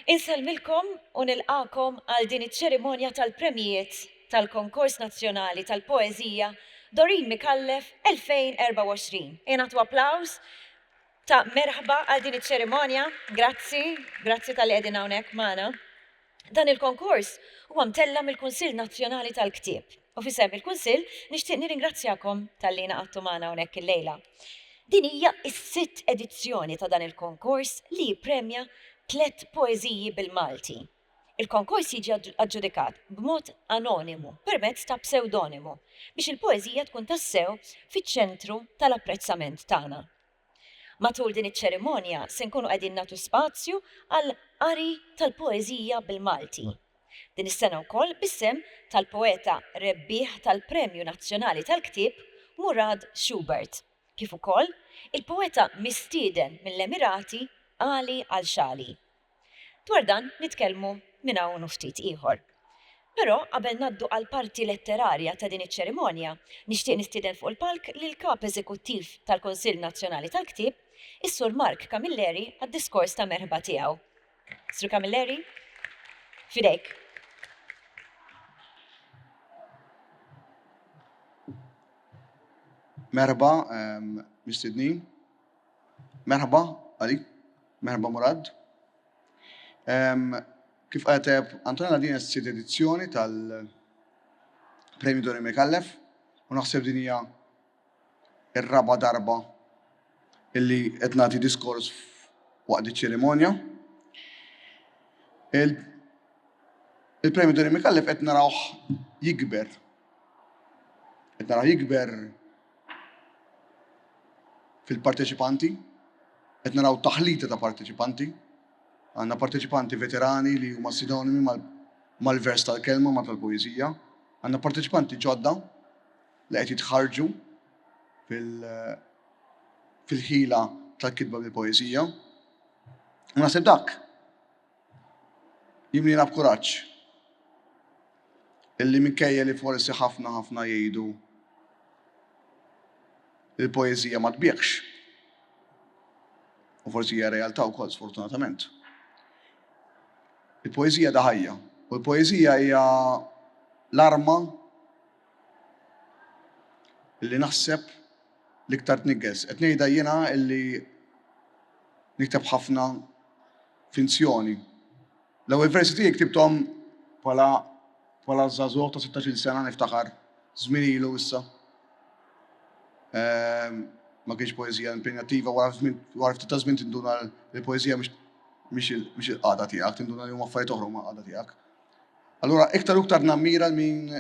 Insellmilkom u nilqakom għal din iċ-ċerimonja tal-Premjijiet tal-Konkors Nazzjonali tal-Poeżija Dorin Micallef 2024. Ingħatu applaws ta' merħba għal din iċ-ċerimonja. Grazzi, grazzi tal-li qegħdin hawnhekk magħna. Dan il-konkors huwa mtella' mill-Kunsill Nazzjonali tal-Ktieb u f'isem il-Kunsill nixtieq nirringrazzjakom talli ingħaqadtu magħna hawnhekk illejla. Din hija s-sitt edizzjoni ta' dan il-konkors li jippremja tliet poeżiji bil-Malti. Il-konkors jiġi aġġudikat b'mod anonimu permezz ta' psewdonimu biex il-poeżija tkun tassew fiċ-ċentru tal-apprezzament tagħna. Matul din iċ-ċerimonja se nkunu qegħdin nagħtu spazju għal qari tal-poeżija bil-Malti. Din is-sena wkoll bis-sehem tal-poeta rebbieħ tal-Premju Nazzjonali tal-Ktieb Murad Schubert, kif ukoll il-poeta mistieden mill-Emirati Ali Alshali. Dwar dan nitkellmu minn hawn u ftit ieħor. Però qabel ngħaddu għall-parti letterarja ta' din iċ-ċerimonja, nixtieq nistieden fuq il-palk lill-Kap Eżekuttiv tal-Kunsill Nazzjonali tal-Ktieb, is-Sur Mark Camilleri għad-diskors ta' merħba tiegħu. Sur Camilleri, f'idejk. Merħba, mistednin. Merħba, għalik. Merħba Murad. Ehm, kif qalet tajjeb Antonella din hija s-sitt edizzjoni tal-Premju Dori Mekallef u naħseb din hija r-raba' darba illi qed nagħti diskors waqt iċ-ċerimonja. Il-Premju Dori Mekallef qed narawh jikber. Qed narawh jikber fil-parteċipanti, qed naraw taħlita ta' parteċipanti. Għandna parteċipanti veterani li huma sinonimi mal-vers tal-kelma, ma tal-poeżija. Għandna parteċipanti ġodda li qed jitħarġu fil-ħila tal-kitba bil-poeżija. U naħseb dak Jimliena b'kuraġġ illi minkejja li forsi ħafna ħafna jgħidu li l-poeżija ma tbiegħx, u forsi hija realtà wkoll sfortunatament. Il-poeżija da ħajja, u l-poeżija hija l-arma li naħseb l-iktar tniggez. Qed ngħidha jiena illi nikteb ħafna finzjoni. L-ewwel versi tiegħi ktibthom bħala bħala żagħżugħ ta' sittax-il sena niftakar, żmien ilu issa. Ehm, ma kienx poeżija impenjattiva wara ftit ta' żmien tinduna l-poeżija mhix il-qagħda tiegħek, tinduna li huma affarijiet oħra ma' qagħda tiegħek. Allura iktar u iktar nammira min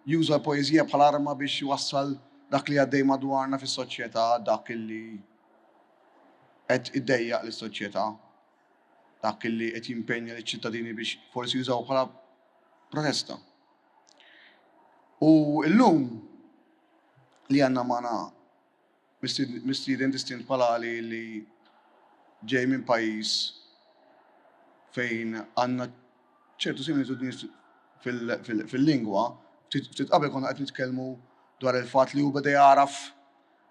juża l-poeżija bħal arma biex jwassal dak li għaddej madwarna fis-soċjetà dak li qed idejjaq lis-soċjetà, dak li qed jimpenja liċ-ċittadini biex forsi jużawh bħala protesta. U llum li għandna magħna mistieden distint bħal Ali li ġej minn pajjiż fejn għandna ċertu similitudni fil-lingwa, ftit qabel konna qed nitkellmu dwar il-fatt li hu beda jagħraf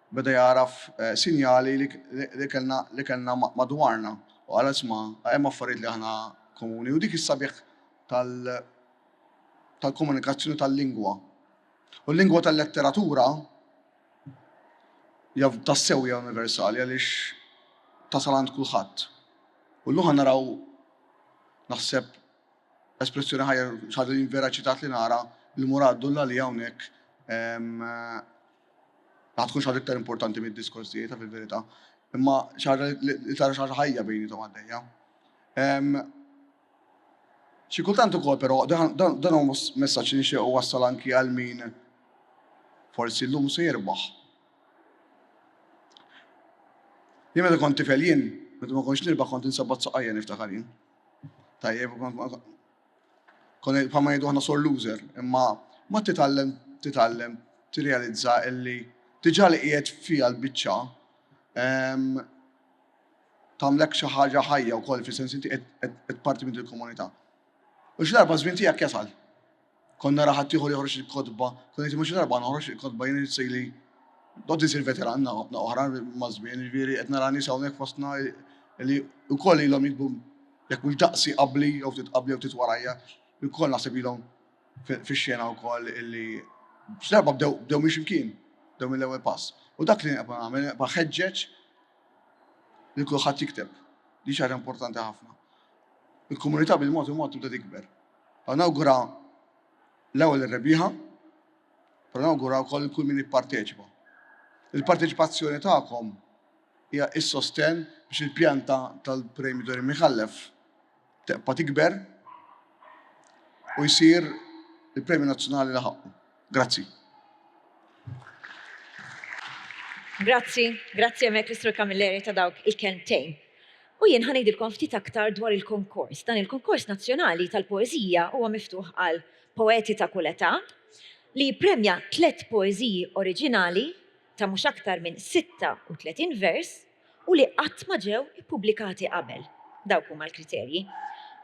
Beda jagħraf sinjali li kellna madwarna u qal, Isma', hemm affarijiet li aħna komuni. U dik hi s-sabiħ tal-komunikazzjoni tal-lingwa. U l-lingwa tal-letteratura hija tassew hija universali għaliex tasal għand kulħadd. U llum ħa naraw, naħseb, espressjoni ħajr, xi ħaġa li jien vera ċitat li nara lil Murad Dullali hawnhekk, Ma tkunx ħaġa iktar importanti mid-diskors tiegħi ta' fil-verità, imma xi ħaġa li tara xi ħaġa ħajja bejniethom għaddejja. Xi kultant ukoll però dan huwa messaġġ li nixtieq wassal anki għal min forsi llum se jirbaħ. Jien meta kont tifel jien, meta ma kontx nirbaħ kont insabbat saqajja niftakar jien. Tajjeb, Konna bħalma ngħidu aħna sor loser, imma mod titgħallem titgħallem tirrealizza illi diġà li qiegħed fiha l-biċċa ehm, tagħmlek xi ħaġa ħajja wkoll fis-sens inti qed parti minn il-komunità. U xi darba żmien tiegħek jasal. Konna raħat tieħu li joħroġ il-kotba, konna jitimux xi darba noħroġ il-kotba jien sejli Dod isir veteran na oħra mażmin, ġviri, etna rani sawnek fostna li u koll ilom jikbu Jekk mhux daqsi qabli jew ftit qabli jew ftit warajja, ilkoll naħseb ilhom fix-xena wkoll illi x'darba bdew bdew minn x'imkien, bdew mill-ewwel pass. U dak li nibqa' nagħmel, nibqa' ħeġġeġ lil kulħadd jikteb. Din xi ħaġa importanti ħafna. Il-komunità bil-mod il-mod tibda tikber. Għaw nawgura l-ewwel ir-rebbieħa, però nawgura wkoll kull min ipparteċipa. Il-parteċipazzjoni tagħkom Hija s-sostenn biex il-pjanta tal-Pray Me Dwar Imħallef tebqa' tikber u jsir il-premju nazzjonali li ħaqqu. Grazzi. Grazzi, grazzi hemmhekk lis-Sur Camilleri ta' dawk il-kelmtejn. U jien ħa ngħidilkom ftit aktar dwar il-konkors. Dan il-konkors nazzjonali tal-poeżija huwa miftuħ għal poeti ta' kull età li jippremja tliet poeżiji oriġinali ta' mhux aktar minn 36 vers u li qatt ma ġew ippubblikati qabel. Dawk huma l-kriterji.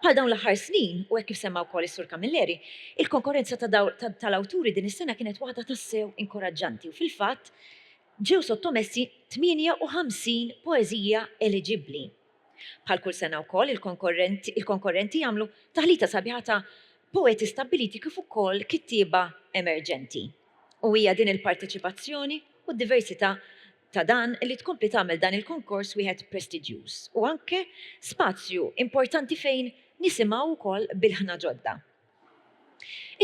Bħal dawn l-aħħar snin, u hekk kif semma wkoll is-Sur Camilleri, il-konkorrenza tal-awturi din is-sena kienet waħda tassew inkoraġġanti u fil-fatt ġew sottomessi 58 poeżija eliġibbli. Bħal kull sena wkoll il-konkorrenti għamlu taħlita sabiħa ta' poeti stabbiliti kif ukoll kittieba emerġenti. U hija din il-parteċipazzjoni u d-diversità ta' dan li tkompli tagħmel dan il-konkors wieħed prestiġjuż u anke spazju importanti fejn nisimgħu wkoll b'ilħna ġodda.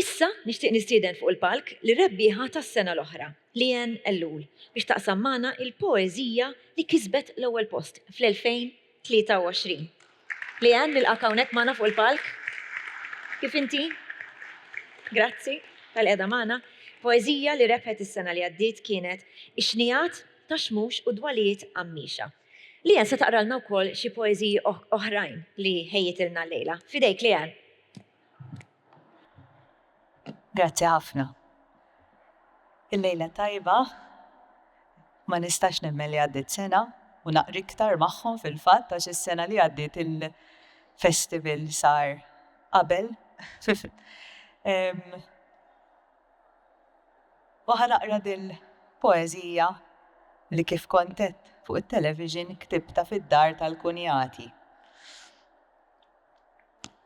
Issa nixtieq nistieden fuq il-palk lir-rebbieħa tas-sena l-oħra, Leanne Ellul, biex taqsam magħna l-poeżija li kisbet l-ewwel post fl-2000 23. Leanne, nilqgħek hawnhekk magħna fuq il-palk. Kif inti? Grazzi tal-qiegħda magħna. Poeżija li rebħet is-sena li għaddiet kienet Ix-xnigħat ta' xmux u dwalijiet għammiexa. Leanne se taqralna wkoll xi poeżiji oħrajn li ħejjitilna llejla. F'idejk Leanne. Grazzi ħafna. Il-lejla tajba, ma nistax nemmen li għaddit sena u naqri iktar magħhom fil-fatt għax is-sena li għaddiet il-festival sar qabel. u ħa naqra dil poezija li kif kontet fuq it-television ktibta fid-dar tal-kunjati.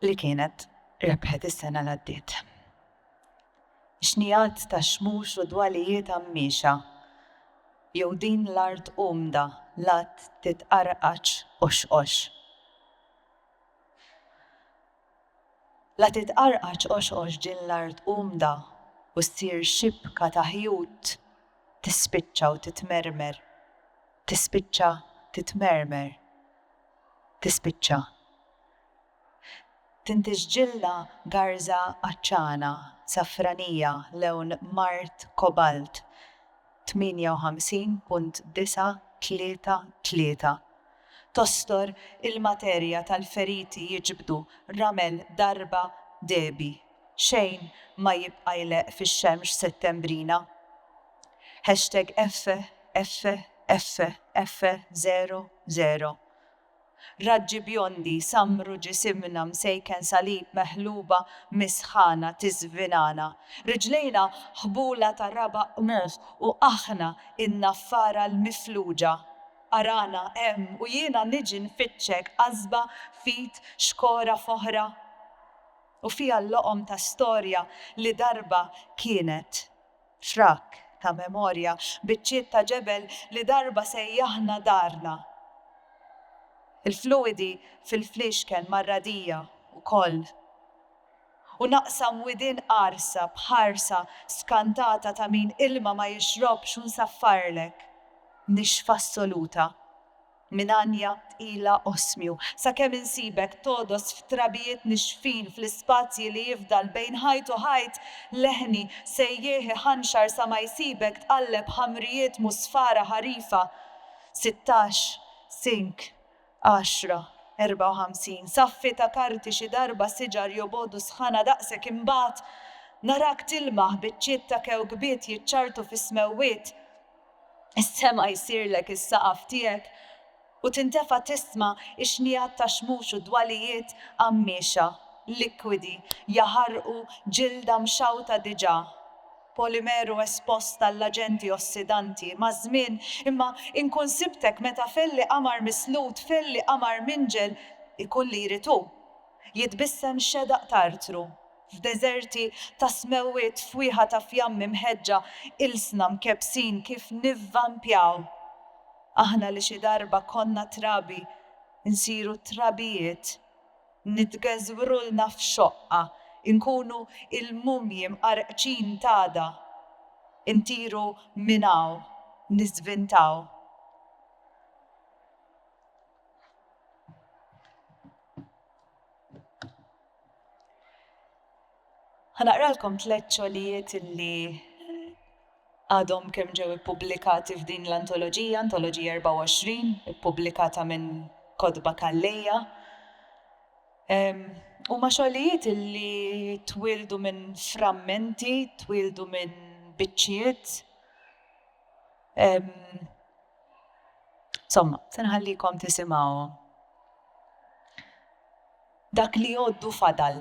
li kienet rebħet is-sena li għaddiet. Xnijat ta' xmux u dwalijiet għammixa jew din l-art umda lat titqarqaċ u xqox. La titqarqaċ u xqox din l-art umda u ssir xibka ta' ħjut tispiċċa u titmermer, tispiċċa titmermer. tispiċċa. Tintiġ ġilla garża għatxana, safranija, lewn mard kobalt, 58.933. Tostor il-materja tal-feriti jiġbdu ramel darba dehbi, xejn ma jibqa' jleqq fix-xemx settembrina. Hashtag Effe, Effe, Effe, Effe, Zero, Zero. Raġġi bjondi, sammru ġisimna msejken salib meħluba mis-sħana tiżvinana. Riġlejna ħbula ta' rabaq qmuħ u aħna in-naffara l-mifluġa. Arana hemm u jiena niġi nfittxek qasba f'id xkora f'oħra. U fiha l-loqom ta' storja li darba kienet. Frak ta' memorja, biċċiet ta' ġebel li darba sejjaħna darna. Il-fluwidi fil-fliexken mar-radija wkoll. U naqsam widien qarsa b'ħarsa skantata ta' min ilma ma jixrobx u nsaffarlek, nixfa assoluta. Minn għanja tqila oħsmju, sakemm insibek togħdos f'trabijiet nixfin fl-ispazji li jifdal bejn ħajt u ħajt, leħni, sejjieħ iħanxar sa ma jsibek tqalleb ħamrijiet musfara ħarifa. Sittax, Sink, għaxra, erbgħa u ħamsin, Saffi ta' karti xi darba siġar jobogħdu sħana daqsek imbagħad narak tilmaħ biċċiet ta' kewkbiet jiċċarrtu fis-smewwiet, Is-sema jsirlek is-saqaf tiegħek u tintefa' tisma' ix-xnigħat ta' xmux u dwalijiet qammiexa, likwidi, jaħarqu ġilda mxawta diġà, polimeru espost għall-aġenti ossidanti, maż-żmien, imma inkun sibtek meta felli qamar mislud, felli qamar minġel, ikun li jrid hu, jitbissem xedaq t'artru, F'deżerti ta' smewwiet, fwieħa ta' fjammi mħeġġa, ilsna mkebbsin kif nivvampjaw. Aħna li xi darba konna trabi, insiru trabijiet. Nitgeżwrulna f'xoqqa, inkunu il-mumji mqarqċin t'għada. Intiru minn hawn, niżvintaw. Ħanaqralkom tliet xogħlijiet li għadhom kemm ġew ippubblikati f'din l-antoloġija, antoloġija 24, ippubblikata minn Kotba Kalleja. Huma xogħlijiet li twildu minn frammenti, twildu minn biċċiet. Somma, se nħallikom tisimgħuhom. Dak li għoddu fadal.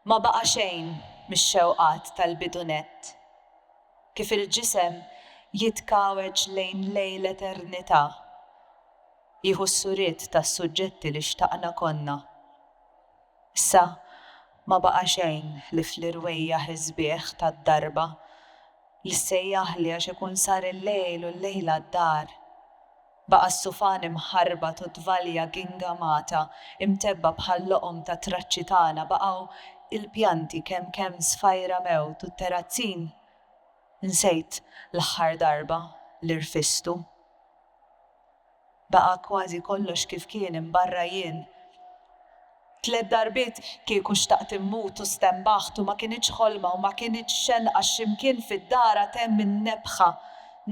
Ma baqa' xejn mix-xewqat tal-bidu nett. Kif il-ġisem jitkawweġ lejn lejl eternità, jieħu s-suriet tas-suġġetti li xtaqna konna. Issa ma baqa' xejn li fl-irwejjaħ isbieħ tad-darba, li ssejjaħli għax ikun sar il-lejl u l-lejla d-dar. Baqa' s-sufan imħarbat u t-tvalja gingamata, imtebbgħa bħal-loqom tat-traċċi tagħna, baqgħu il-pjanti kemm kemm sfajra mewt u t-terrazzin, nsejt l-aħħar darba li rfistu. Baqa' kważi kollox kif kien imbarra jien. Tliet darbiet kieku xtaqt immut u stenbaħt u ma kinitx ħolma u ma kinitx xenqa x'imkien fid-dara temm in-nebħa,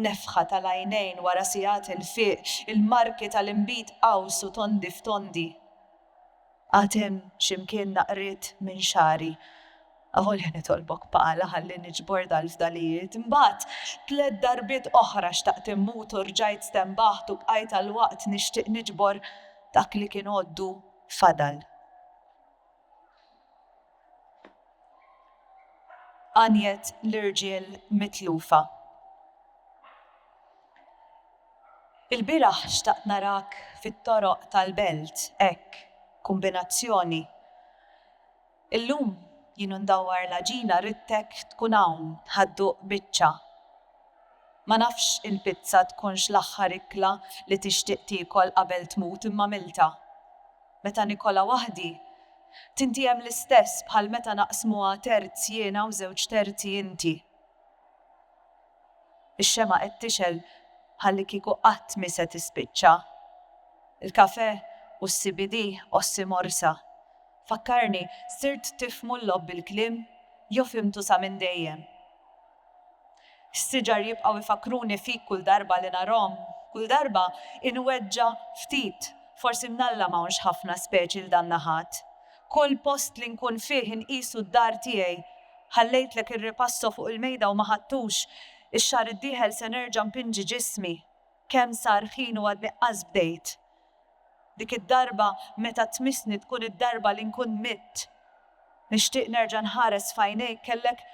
nefħa tal-għajnejn wara sigħat il-fiq, il-marki tal-inbid qaws u tondi f'tondi. Għad hemm x'imkien naqriet minn xagħri. Avolja nitolbok pala ħalli niġbor dal-fdalijiet. Imbagħad tliet darbiet oħra xtaqt immut u rġajt stenbaħt u bqajt għal waqt nixtieq niġbor dak li kien għoddu fadal. Għanjet l-irġiel mitlufa. Il-bieraħ xtaqt narak fit-toroq tal-belt hekk, kumbinazzjoni. Illum jien u ndawwar l-għaġina ridtek tkun hawn ħad-duq biċċa. Ma nafx il-pizza tkunx l-aħħar ikla li tixtieq tiekol qabel tmut imma għmiltha. Meta nikolha waħdi, tintiehem l-istess bħal meta naqsmuha terz jiena u żewġ terzi inti. Ix-xemgħa qed tixgħel bħallikieku qatt mhi se tispiċċa. Il-kafè u s-CBD qossi morsa. Fakkarni, sirt tifhmu l-logħob bil-kliem jew fhimtu sa minn dejjem? Is-siġar jibqgħu jfakkruni fik kull darba li narhom, kull darba inweġġa' ftit, forsi mnalla m'hawnx ħafna speċi 'l dan naħat. Kull post li nkun fih inqisu d-dar tiegħi. Ħallejtlek ir-ripasso fuq il-mejda u ma ħadtux. Ix-xahar id-dieħel se nerġa' npinġi ġismi. Kemm sar ħin u għadni qas bdejt. Dik id-darba meta tmissni tkun id-darba li nkun mitt. Nixtieq nerġa' nħares f'għajnejk kellek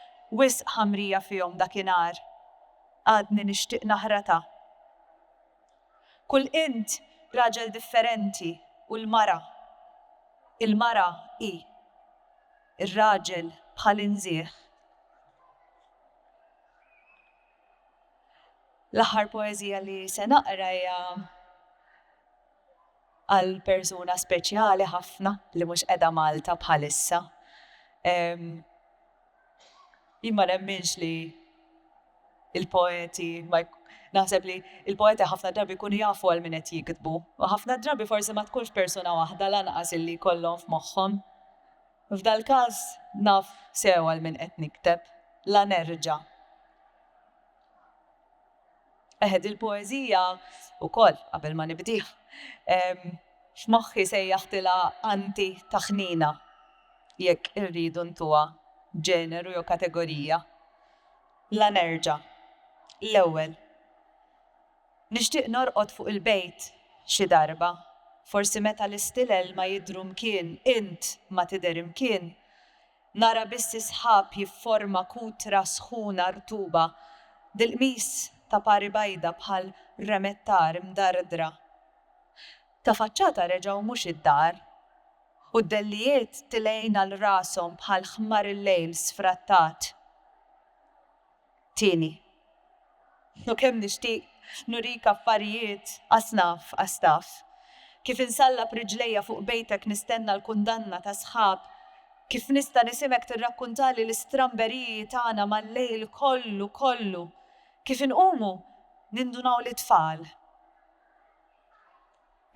wisq ħamrija fihom dakinhar. Għadni nixtieq naħratha. Kull int raġel differenti u l-mara, il-mara hi, ir-raġel bħal inżieħ. L-aħħar poeżija li se naqra hija għal persuna speċjali ħafna li mhux qiegħda Malta bħalissa. Jien ma nemminx li il-poeti ma naħseb li il-poeti ħafna drabi jkunu jafu għal min qed jiktbu. U ħafna drabi forsi ma tkunx persuna waħda lanqas illi jkollhom f'moħħhom. F'dal-każ naf sew għal min qed nikteb. La nerġa'. Eħe, dil-poeżija wkoll, qabel ma nibdieha, f'moħħi sejjaħtilha anti-taħnina, jekk irridu ntuha ġeneru jew kategorija. La nerġa'. L-ewwel, nixtieq norqod fuq il-bejt xi darba, forsi meta l-istilel ma jidhru mkien int ma tidher imkien, Nara biss is-sħab jifforma kutra sħuna rtuba, bil-qmis ta' pari bajda bħal remettar imdardra. Ta' faċċata reġgħu mhux id-dar, u d-dellijiet tilgħin għal rashom bħal ħmar il-lejl sfrattat. Tieni. U kemm nixtieq nurik affarijiet asnaf asnaf. Kif insallab riġlejja fuq bejtek nistenna l-kundanna ta' sħab, kif nista' nisimek tirrakkuntali l-istramberiji tagħna mal-lejl kollu kollu, kif inqumu nindunaw li tfal.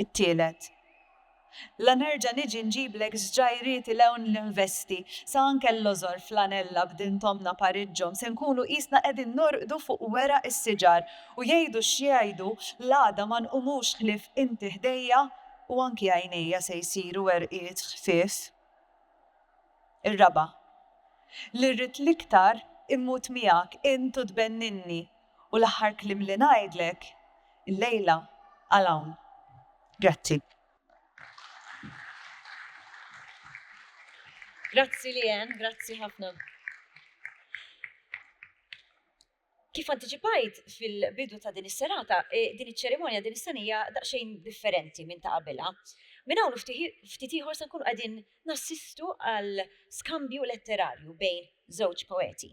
It-tielet. La nerġa' niġi nġiblek ż-ġgħajriet 'il hawn ninvesti, sa anke l-lożor flanella b'din t'ommna Pariġġhom se nkunu qisna qegħdin norqdu fuq weraq is-siġar u jgħidu x'jgħidu l-għada ma nqumux ħlief inti ħdejja u anki għajnejja se jsiru werqiet ħfief. Ir-raba'. Li rrid l-iktar immut miegħek int u tbenninni U l-aħħar kliem li ngħidlek illejla għal hawn. Grazzi. Grazzi Lian, grazzi ħafna. Kif antiċipajt fil-bidu ta' din is-serata, e, din iċ-ċerimonja din is-sanija daqsxejn differenti minn ta' qabilha. Minn hawn ftit ieħor se nkunu qegħdin nassistu għal skambju letterarju bejn żewġ poeti.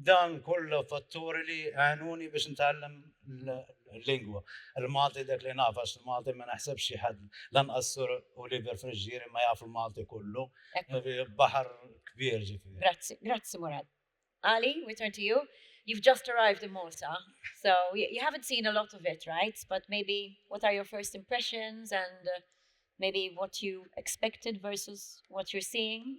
Dawn kullu fatturi li għenuni biex nitgħallem l-lingwa. Il-Malti dak li naf għax il-Malti ma naħsebx xi ħadd lanqas Sur Oliver Friġġieri ma jaf il-Malti kullu. Baħar kbir ġifieri. Grazzi, grazzi Murad. Ali, we turn to you. You've just arrived in Malta, so you haven't seen a lot of it, right? But maybe what are your first impressions and uh, maybe what you expected versus what you're seeing?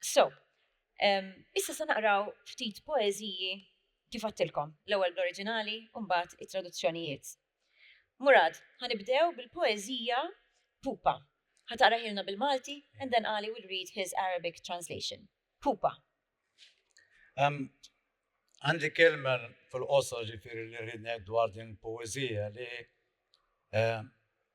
So, um, issa se naqraw ftit poeżiji kif għattilkom, l-ewwel bl-oriġinali u mbagħad it-traduzzjonijiet. Murad, ħanibdew bil-poeżija Pupa. Ħataqra ħilna bil-Malti and then Ali will read his Arabic translation. Pupa. Um, Għandi kelma fil-qosor ġifiri li rridnek dwar din poezija li eh,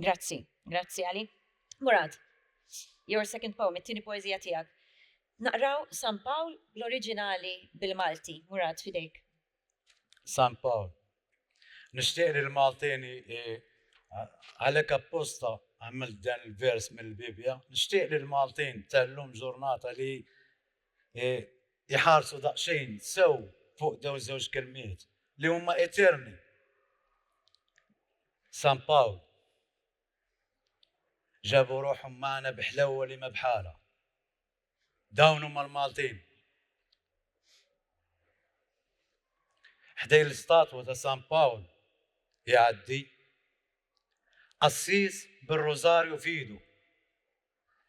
Grazzi, grazzi għali. Murad, your second poem, it-tieni poezija tiegħek. Naqraw San Pawl l-oriġinali bil-Malti, Murad fidejk. San Pawl. Nixtieq li l-Maltini għalhekk apposta għamil dan il-vers mill-Bibja, nixtieq li l-Maltin tellum ġurnata li jħarsu daqsxejn sew fuq dew żewġ kelmiet li huma eterni. San Pawl, Ġabu ruħhom magħna bi ħlewwa li ma bħalha. Dawn huma l-Maltin. Ħdejn l-istatwa ta' San Pawl jgħaddi qassis bir-rużarju f'idu.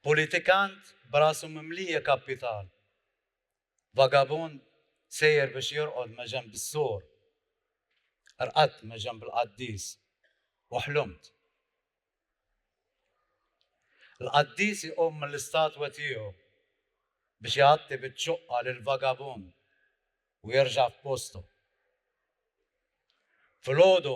Politikant b'rasu mimlija kappital. Vagabund sejjer biex jorqod meġenb is-sur. Rqadt meġenb il-qaddis u ħlumt. Il-qaddis iqum mill-istatwa tiegħu biex ighatti biċ-ċuqqa lill-vagabund u jerġa' f'postu. Filgħodu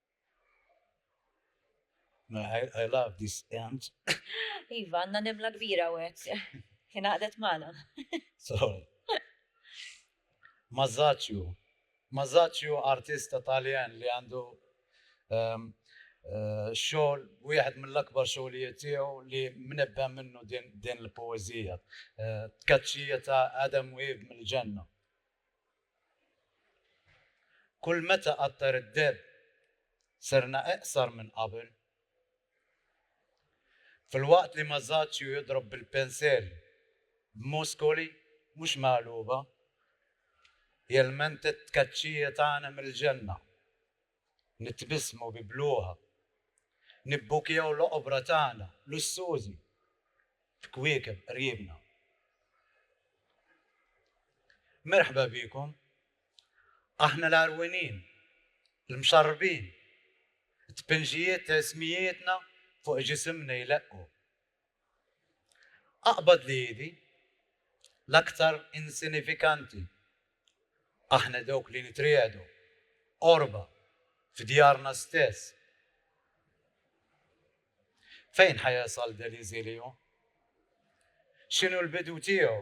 I, I love this end. Iva, għanna nimla kbira u għek. Kien għadet maħna. so, Mazzaccio. Mazzaccio artista taljan li għandu um, uh, xogħol wieħed mill-akbar xogħlijiet tiegħu li mnebba minnu din, din l-poeżija. Uh, tkaċċija ta' Adam Wib mill-ġenna. Kull meta qattar id-dell serna eqsar minn qabel. Filwaqt li Masaccio jidrob bil-pensell b'muskoli mhux megħluba, jelmenta t-tkaċċija tagħna mill-ġenna Nitbissmu bi bluha. Nibbukjaw l-oqbra tagħna lussużi f'kwiekeb qriebna. Merħba bikom. Aħna l-għarwinin, l-mxarrbin, it-tpinġijiet ta' ismijietna fuq ġisimna jleqqu. Aqbad li idi, l-aktar insinifikanti, aħna dawk li nitriegħdu, qorba, f'djarna stess. Fejn ħa jasal del iżilju? X'inhu l-bidu tiegħu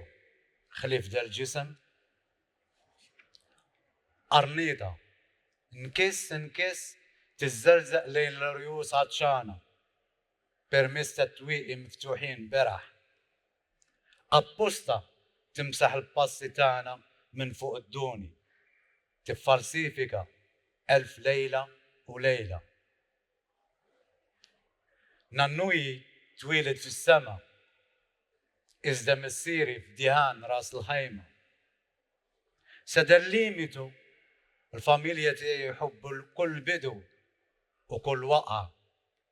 ħlief del ġisem? Qarnieta, nkiss nkiss tiżżerżeq lejn l-irjus għatxana, permezz tat-twieqi miftuħin beraħ. Apposta timsaħ il-passi tagħna minn fuq id-duni, tiffalsifika elf lejla u lejla. Nannuji twieled fis-sema, iżda missieri f'Diħan Ras l-Ħajma. Sedel limitu, l-familja tiegħi jħobbu kull bidu u kull waqgħa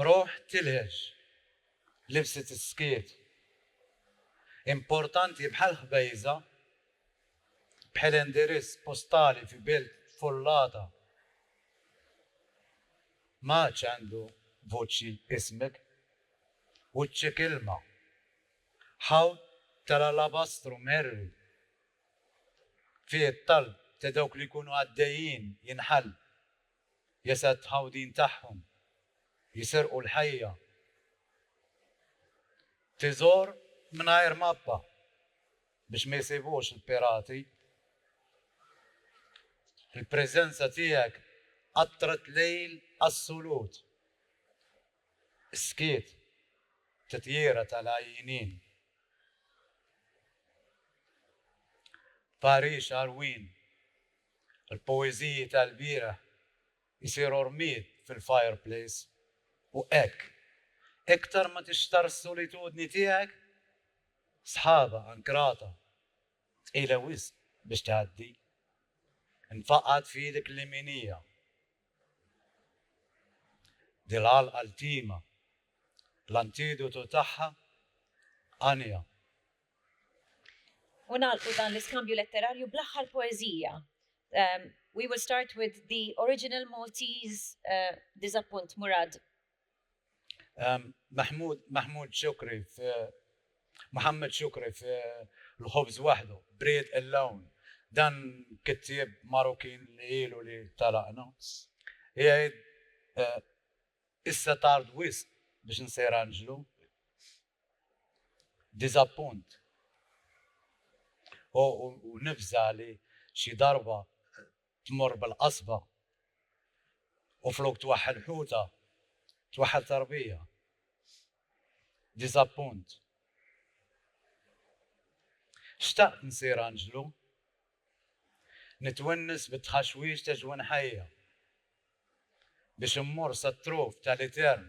Ruħ tilhex, libsi tiskiet. Importanti bħal ħbejża, bħel indirizz postali fi belt tfullata. M'għadx għandu vuċċi ismek. Wiċċek ilma. Ħawd tal-alabastru mherwi. Fih it-talb ta' dawk li jkunu għaddejjin jinħall. jesed ħawdin tagħhom jiserqu l-ħajja tiżgħor mingħajr mappa biex ma jsibux il-pirati. Il-preżenza tiegħek qattret lejl assolut. Is-skiet titjira tal-għajjinin. Paris Alwin Il-poeżiji tal-bieraħ isiru rmied fil-fireplace u hekk, iktar ma tixtarr is-solitudni tiegħek, sħabha ankrata, tqila wisq biex tgħaddi, infaqgħet f'idek l-jeminija. Din l-għalqa ltima, l-antidotu tagħha għanja U nagħlqu dan l-iskambju letterarju bl-aħħar poeżija. Um, we will start with the original Maltese uh, Disappunt Murad. Um, Mahmoud, Mahmoud Shukri, uh, Muhammad Shukri, uh, l-ħobż waħdu, Breed Alone, dan kittieb Marokin li ilu li talaqna. Jgħid, uh, issa tard wisq biex nsejranġlu, diżappunt. U, u, u nifza li xi darba tmur bil-qasba u flok twaħħel ħuta, twaħħel tarbija. Diżappunt. Xtaqt nsir anġlu, nitwennis bit-tħaxwix ta' ġwin ħajja biex immur sat-truf tal-etern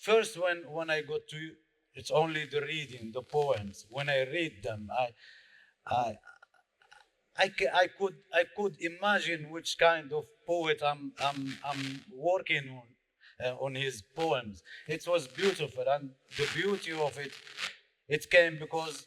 First when when I got to it's only the reading the poems when I read them I I I, I could I could imagine which kind of poet I'm I'm I'm working on uh, on his poems. It was beautiful and the beauty of it it came because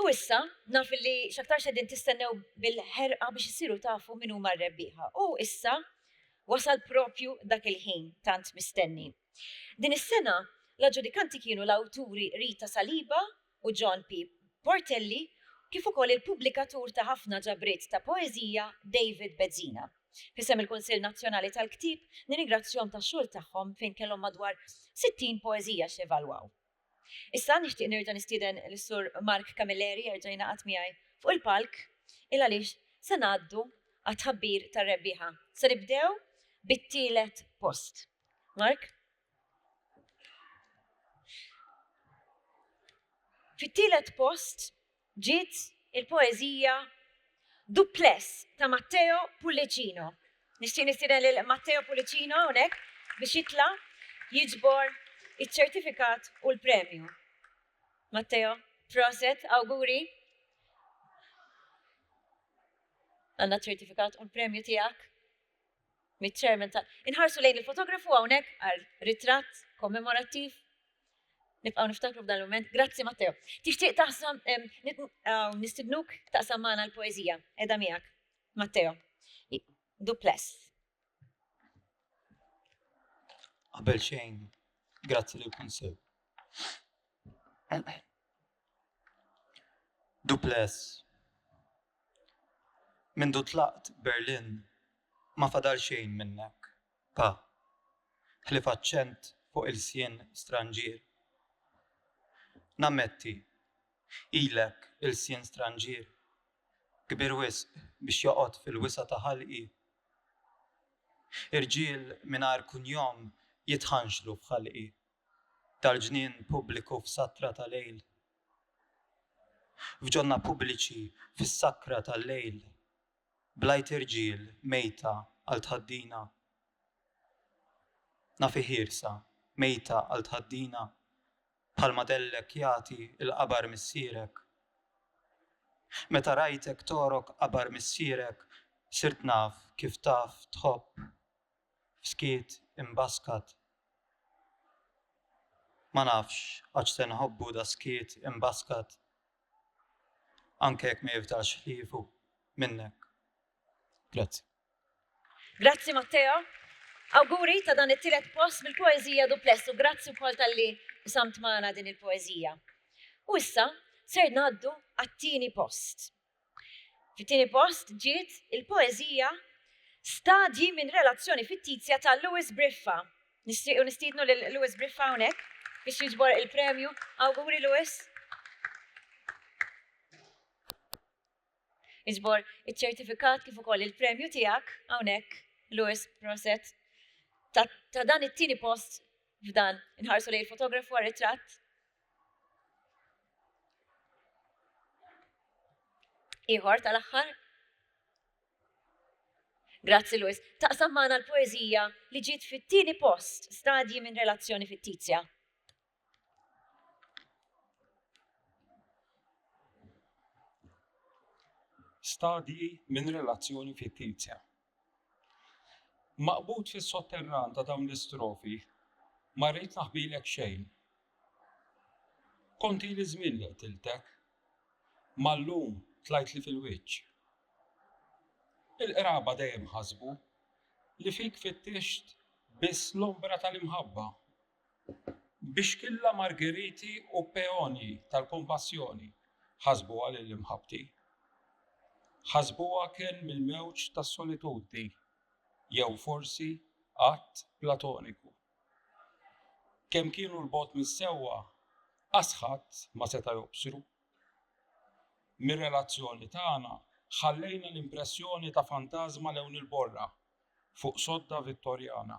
U issa, naf li xaktar xedin tistennew bil-ħerqa biex issiru tafu minn huma r-rebbieħa. U issa, wasal propju dak il-ħin tant mistenni. Din is-sena, l-aġġudikanti kienu l-awturi Rita Saliba u John P. Portelli kif ukoll il-pubblikatur ta' ħafna ġabriet ta' poeżija David Bezzina. F'isem il-Kunsill Nazzjonali tal-Ktieb, nirringrazzjahom tax-xogħol tagħhom fejn kellhom madwar 60 poeżija x'evalwaw. Issa nixtieq nerġa' nistieden lis-Sur Mark Camilleri jerġa' jingħaqad miegħi fuq il-palk il għaliex se ngħaddu għat-tħabbir tar-rebbieħa. Se nibdew bit-tielet post. Mark? Fit-tielet post Ġiet il-poeżija Duplex ta' Matteo Pullicino. Nixtieq nistieden lil Matteo Pullicino hawnhekk biex jitla' jiġbor iċ-ċertifikat u l-premju. Matteo, proset, awguri. Għandna ċ-ċertifikat u l-premju tiegħek. miċ-Chairman tal. Inħarsu lejn il-fotografu hawnhekk għal ritratt kommemorattiv. Nibqgħu niftakru f'dan il-mument. Grazzi Matteo. Tixtieq taqsam nistidnuk taqsam magħna l-poeżija qiegħda miegħek. Matteo. Duples. Qabel xejn, grazzi lill-Kunsill. Dupless, Mindu tlaqt Berlin ma fadal xejn minnek, pa. Ħlief aċċent fuq ilsien stranġier. Nammetti, ilek ilsien stranġier, kbir wisq biex joqgħod fil-wisa' ta' ħalqi. Irġiel mingħajr kunjom jitħanxlu f'ħalqi. tal-ġnien pubbliku f'satra ta' lejl, f'ġonna pubbliċi fis-sakra tal-lejl, bl-għajt irġiel mejta għal tħaddina, nafi ħiersa mejta għal tħaddina, bħalma dellek jagħti l-qabar missierek. Meta rajtek togħrok qabar missierek, sirt naf kif taf tħobb skiet imbaskat Ma nafx għax se nħobbu da skiet imbaskat Anke jekk ma jifdalx ħliefu minnek Grazzi. Grazzi Matteo. Awguri ta' dan it-tielet post bil-poeżija dupless u grazzi wkoll tal-li samt magħna din il-poeżija. U issa ser ngħaddu għat-tieni post. Fit-tieni post ġiet il-poeżija Stadji minn relazzjoni fittizja ta' Louis Briffa. Nixtiequ nistiednu lil Louis Briffa hawnhekk biex jiġbor il-premju. Awguri Louis! Iġbor iċ-ċertifikat kif ukoll il-premju tiegħek hawnhekk Louis Proset ta' dan it-tieni post f'dan inħarsu lejn fotografu għar-ritratt. Iħor tal-aħħar. Grazzi Luis. Taqsam magħna l-poeżija li ġiet fit-tieni post stadji minn relazzjoni fittizja. Stadji minn relazzjoni fittizja. Maqbud fis-sotterran ta' dawn l-istrofi, ma rrid naħbilek xejn. Kont ili żmien li qtiltek, ma llum tlajtli fil-wiċċ. Il-qraba dejjem ħasbu li fik fittixt biss l-ombra tal-imħabba. Bixkilla margeriti u peonji tal-kompassjoni ħasbuha lil imħabbti. Ħasbuha kenn mill-mewġ tas-solitudni, jew forsi att platoniku. Kemm kienu 'l bogħod mis-sewwa, qas ħadd ma seta' jobsru. Mir-relazzjoni tagħna ħallejna l-impressjoni ta' fantażma lewn il-borra fuq sodda Vittorjana.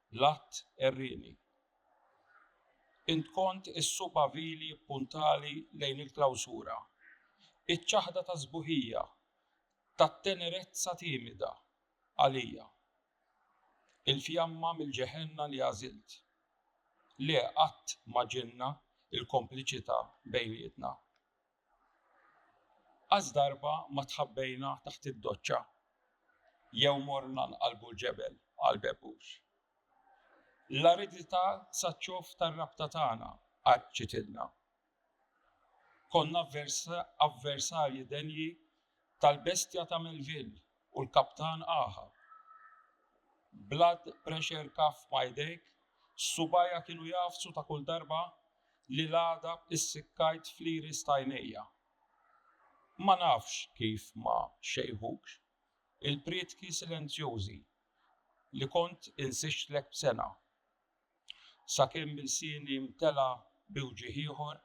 L-att għerrieni. Int kont is-subgħa vili ppuntali lejn il-klawsura, iċ-ċaħda ta' sbuħija, tat-tenerezza timida, għalija. Il-fjamma mill-ġeħenna li għażilt. Le, qatt ma ġinna l-kompliċità bejnietna. Qas darba ma tħabbejna taħt id-doċċa jew morna nqallbu l-ġebel, qal Bebbux. L-aridità saċ-ċof tar-rabta tagħna qaċċitilna. Konna avversarji denji tal-bestja ta' Melville u l-kaptan Aha. Blood pressure kaf ma jdejk, subajja kienu jafsu ta' kull darba li l-għada issikkajt fliri stajnejja. Ma nafx kif ma xejħukx il-prietki silenzjużi li kont insixtlek b'sengħa. Sakemm ilsieni mtela' bi wġigħ ieħor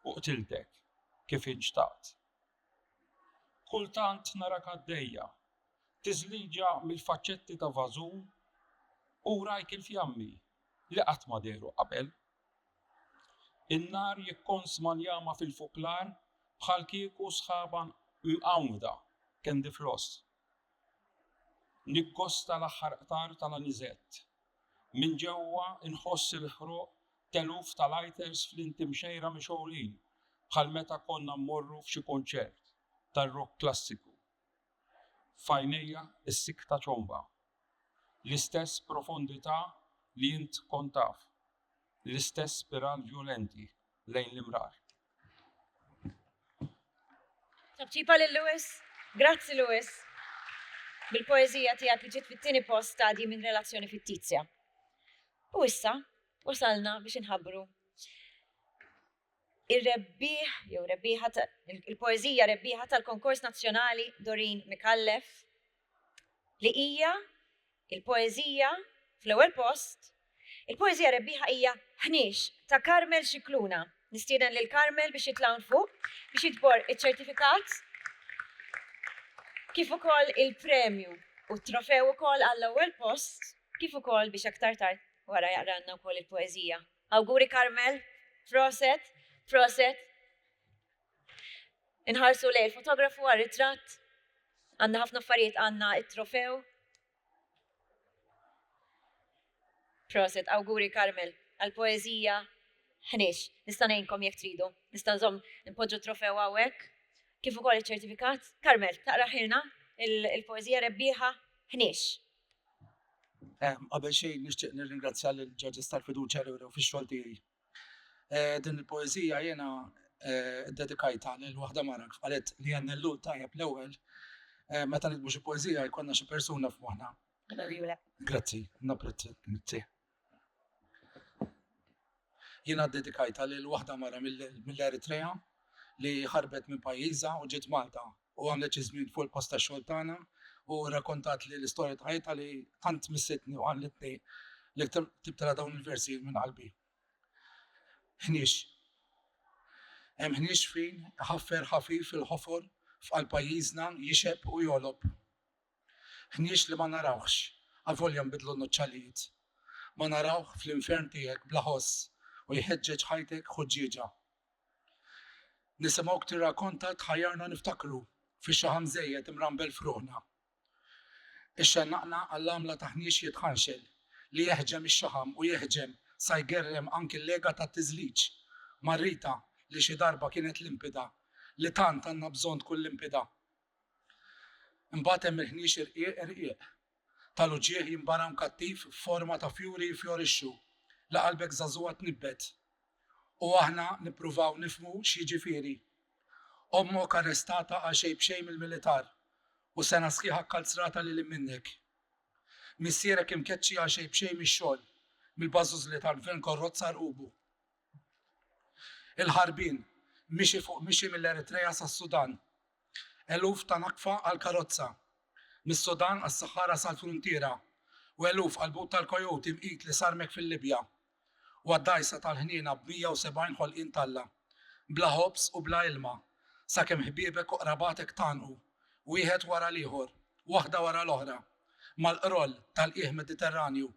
u qtiltek kif inxtaqt. Kultant narak għaddejja, tiżliġa mill-faċċetti ta' vażun u wrajk il-fjammi li qatt ma dehru qabel. In-nar jikkonsma l-jama fil-fuklar bħalkieku sħaba mqanwda, candy floss. Nikkosta l-aħħar qtar tal-aniżett. Minn ġewwa nħoss il-ħruq t'eluf ta' lighters fl-inti mxejra mixgħulin bħal meta konna mmorru f'xi kunċert tar-rock klassiku. F'għajnejja s-sikta ċomba. L-istess profondità li int kont taf. L-istess spiral vjolenti. lejn l-imrar. Tabċipa lil Lewis, grazzi Lewis, bil-poezija tiegħek li ġiet fit-tieni post stadji minn relazzjoni fittizja. U issa, wasalna biex inħabbru il-rebbieħ, jew rebbieħa, il-poezija rebbieħa tal-konkors nazzjonali Dorin Mikallef, li hija l-poeżija fl-ewwel post, il-poeżija rebbieħa hija Ħniex ta' Carmel Scicluna. Nistieden lil Carmel biex jitla' hawn fuq biex jiġbor iċ-ċertifikat kif ukoll il-premju u t-trofew ukoll għall-ewwel post kif ukoll biex aktar tard wara jaqralna wkoll il-poeżija. Awguri Carmel, proset, proset. Inħarsu lejn il-fotografu għal ritratt. Għandna ħafna affarijiet għandna it-trofew. Proset, awguri Carmel, għal-poezija ħniex. Nista' ngħinkom jekk tridu. Nista' nżomm npoġġu trofew hawnhekk. Kif ukoll iċ-ċertifikat. Carmel, taqra ħilna il-poezija rebbieħa ħniex. Qabel xejn nixtieq nirringrazzja lil ġaġis tal-fiduċja li wrew fix-xogħol tiegħi. Eh, din il-poezija jena eh, dedikajta lil waħda mara kif qalet li għan l tajjeb l-ewwel eh, meta nitbu xi poezija jkollna xi persuna f'moħħna. Grazzi, napprezzi mitti. Jena dedikajta lil waħda mara mill-Eritrea li ħarbet minn pajjiża u ġiet Malta u għamlet xi żmien fuq il-post tax-xogħol tagħna u rrakkontatli l-istorja ta' ħajjitha li tant missitni u qaliltni li ktibtilha dawn il-versi minn qalbi. Ħniex. Hemm ħniex fin ħaffer ħafif fil-ħofor f'qalb pajjiżna jixeb u jolob. Ħniex li ma narawhx, avolja nbidlu n-nuċċallijiet. Ma narawh fl-infern tiegħek bla ħoss u jħeġġeġ ħajtek ħuġġieġa. Nisimgħuk tirrakonta tħajjarna niftakru fix-xaħam żejjed imrambel f'ruħna. Ixxennaqna għall-għamla ta' ħniex jitħanxel li jeħġem ix-xaħam u jeħġem sa jgerrem anki l-lega tat-tiżliġ. Marrita li xi darba kienet limpida, li tant għandna bżonn tkun limpida. Imbagħad hemm il-ħniex irqiq irqiq, tal-uġigħ jinbara mkattiv f'forma ta' fjuri jifjorixxu, li qalbek żagħżugħa tnibbet. U aħna nippruvaw nifhmu x'jiġifieri. Ommok arrestata għal xejn b'xejn mill-militar, u sena sħiħa kkalzrata lil hinn minnek. Missierek imkeċċi għal xejn b'xejn mix-xogħol, mill-bażużli tal-gvern korrott sar qubu. Il-ħarbien, mixi fuq mixi mill-Eritrea sas-Sudan. Eluf ta' naqfa għall-karozza. Mis-Sudan għas-Saħħara sal-fruntiera u eluf għall-but tal-kojut imqit li sarmek fil-Libja u għad-dgħajsa tal-ħniena b'170 ħolqien t'Alla. Bla ħobż u bla ilma, sakemm ħbiebek u qrabatek tgħannqu, wieħed wara l-ieħor, waħda wara l-oħra, mal-qroll tal-qiegħ Mediterranju.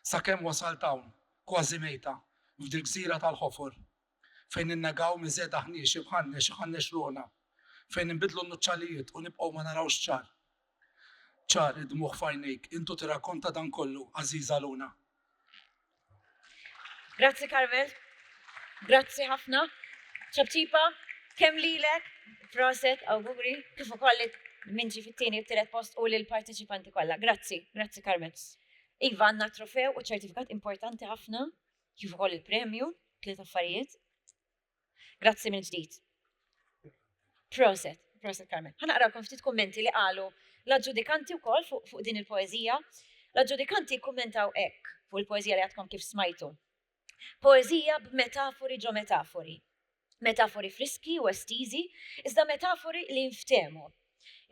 Sakemm wasalt hawn, kważi mejta, f'dil-gżira tal-ħofol. Fejn ninnegaw miżegħda ħniex imħannex iħannex ruħna. Fejn inbiddlu n-nuċċalijiet u nibqgħu ma narawx ċar. Ċar, id-dmugħ f'għajnejk, intu tirrakkonta dan kollu, għażiża Luna. Grazzi Carmel. Grazzi ħafna. Ċabċipa, kemm lilek, proset, awguri, kif ukoll minn ġi fit-tieni u t-tielet post u lill-parteċipanti kollha. Grazzi, grazzi Carmel. Iva għandna t-trofew u ċertifikat importanti ħafna, kif ukoll il-premju, tliet affarijiet. Grazzi minn ġdid. Proset, proset Carmen. Ħanaqrawkom ftit kummenti li qalu l-aġġudikanti wkoll fuq fuq din il-poeżija. L-aġġudikanti kkummentaw hekk fuq il-poeżija li għadkom kif smajtu. Poeżija b'metafori ġo metafori. Metafori friski u estiżi, iżda metafori li jinftehmu.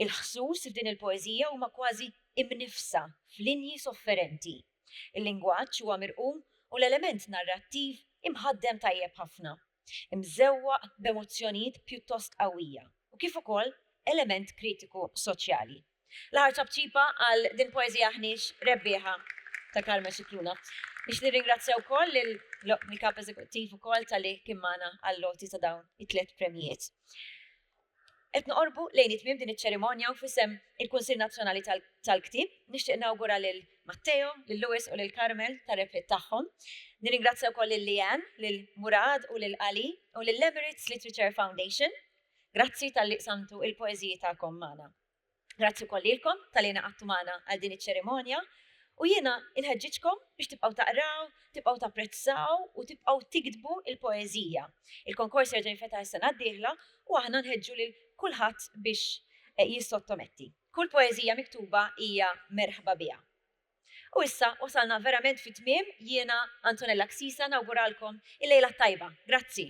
Il-ħsus f'din il-poeżija huma kważi imniffsa f'linji sofferenti. Il-lingwaġġ huwa mirqum u l-element narrattiv imħaddem tajjeb ħafna. Imżewwaq b'emozzjonijiet pjuttost qawwija u kif ukoll element kritiku soċjali. L-aħħar ċapċipa għal din poeżija aħniex rebbieħa ta' Carmen Scicluna. Biex nirringrazzja wkoll lill-Kap Eżekuttiv ukoll tal-li kien magħna għall-loti ta' dawn it-tliet premjijiet. Qed noqorbu lejn it-tmiem din iċ-ċerimonja u fisem il-Kunsill Nazzjonali tal-Ktib nixtieq nawgura lil Matteo, lil Lewis u lil Carmel tar-rebħiet tagħhom. Nirringrazzja wkoll lil Leanne, lil Murad u lil Ali u lil Emirates Literature Foundation. Grazzi tal-li qsamtu il-poeżiji tagħkom magħna. Grazzi wkoll lilkom tal-li ingħaqadtu magħna għal din iċ-ċerimonja u jiena inħeġġiġkom biex tibqgħu taqraw, tibqgħu tapprezzaw u tibqgħu tiktbu l-poeżija. Il-konkors jerġa' jinfetaħ is-sena d-dieħla u aħna nħeġġu lil kulħadd biex jissottometti. Kull poeżija miktuba hija merħba biha. U issa wasalna verament fit-tmiem, jiena, Antonella Xisa, nawguralkom il-lejla t-tajba. Grazzi.